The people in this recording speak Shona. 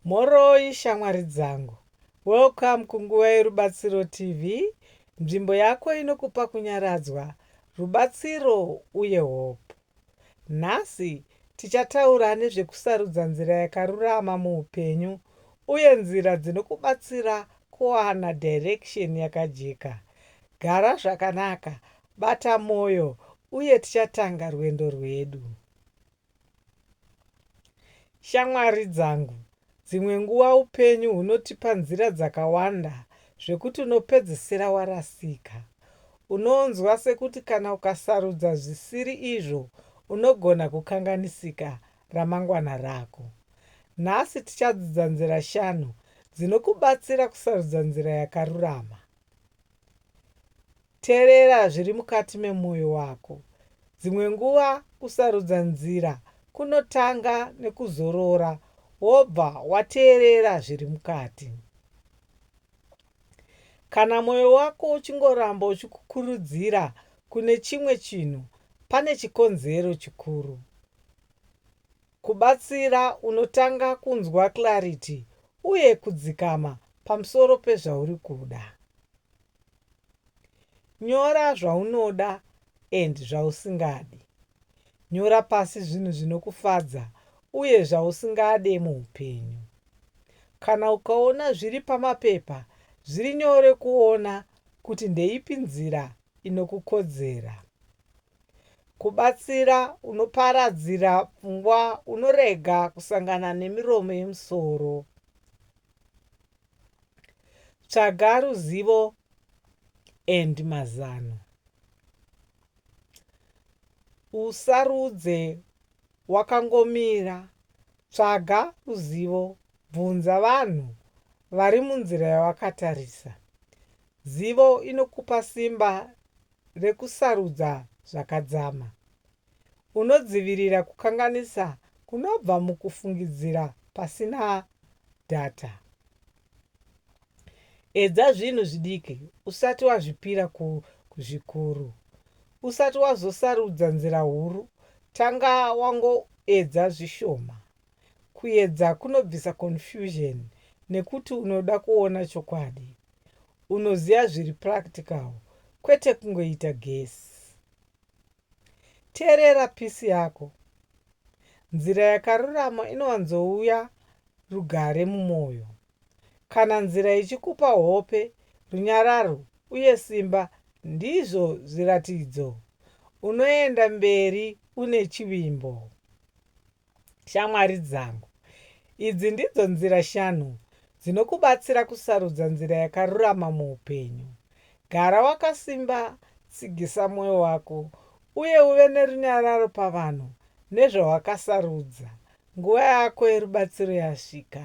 Mhoroi shamwari dzangu. Welcome kunguva yerubatsiro TV, nzvimbo yako inokupa kunyaradzwa, rubatsiro uye hope. Nhasi tichataura nezvekusarudza nzira yakarurama muupenyu uye nzira dzinokubatsira kuwana direction yakajeka. Gara zvakanaka, bata moyo uye tichatanga rwendo rwedu. Shamwari dzangu, dzimwe nguva upenyu hunotipa nzira dzakawanda zvekuti unopedzesera warasika. Unonzwa sekuti kana ukasarudza zvisiri izvo unogona kukanganisika ramangwana rako. Nhasi tichadzidza nzira shanu dzinokubatsira kusarudza nzira yakarurama. Terera zviri mukati memwoyo wako. Dzimwe nguva kusarudza nzira kunotanga nekuzorora wobva wateerera zviri mukati. Kana mwoyo wako uchingoramba uchikukurudzira kune chimwe chinhu, pane chikonzero chikuru. Kubatsira unotanga kunzwa clarity uye kudzikama pamusoro pezvauri kuda. Nyora zvaunoda and zvausingadi. Nyora pasi zvinhu zvinokufadza uye zvausingade muupenyu. Kana ukaona zviri pamapepa zviri nyore kuona kuti ndeipi nzira inokukodzera. Kubatsira unoparadzira pfungwa unorega kusangana nemiromo yemusoro. Tsvaga ruzivo and mazano. Usarudze wakangomira. Tsvaga ruzivo, bvunza vanhu vari munzira yawakatarisa. Zivo inokupa simba rekusarudza zvakadzama. Unodzivirira kukanganisa kunobva mukufungidzira pasina data. Edza zvinhu zvidiki usati wazvipira kuzvikuru. Usati wazosarudza nzira huru, tanga wangoedza zvishoma. Kuedza kunobvisa confusion nekuti unoda kuona chokwadi. Unoziva zviri practical kwete kungoita guess. Teerera peace yako. Nzira yakarurama inowanzouya rugare mumoyo. Kana nzira ichikupa hope, runyararo uye simba ndizvo zviratidzo. Unoenda mberi une chivimbo. Shamwari dzangu, idzi ndidzo nzira shanu dzinokubatsira kusarudza nzira yakarurama muupenyu. Gara wakasimba, tsigisa mwoyo wako, uye uve nerunyararo pavanhu nezvawakasarudza. Nguva yako yerubatsiro yasvika.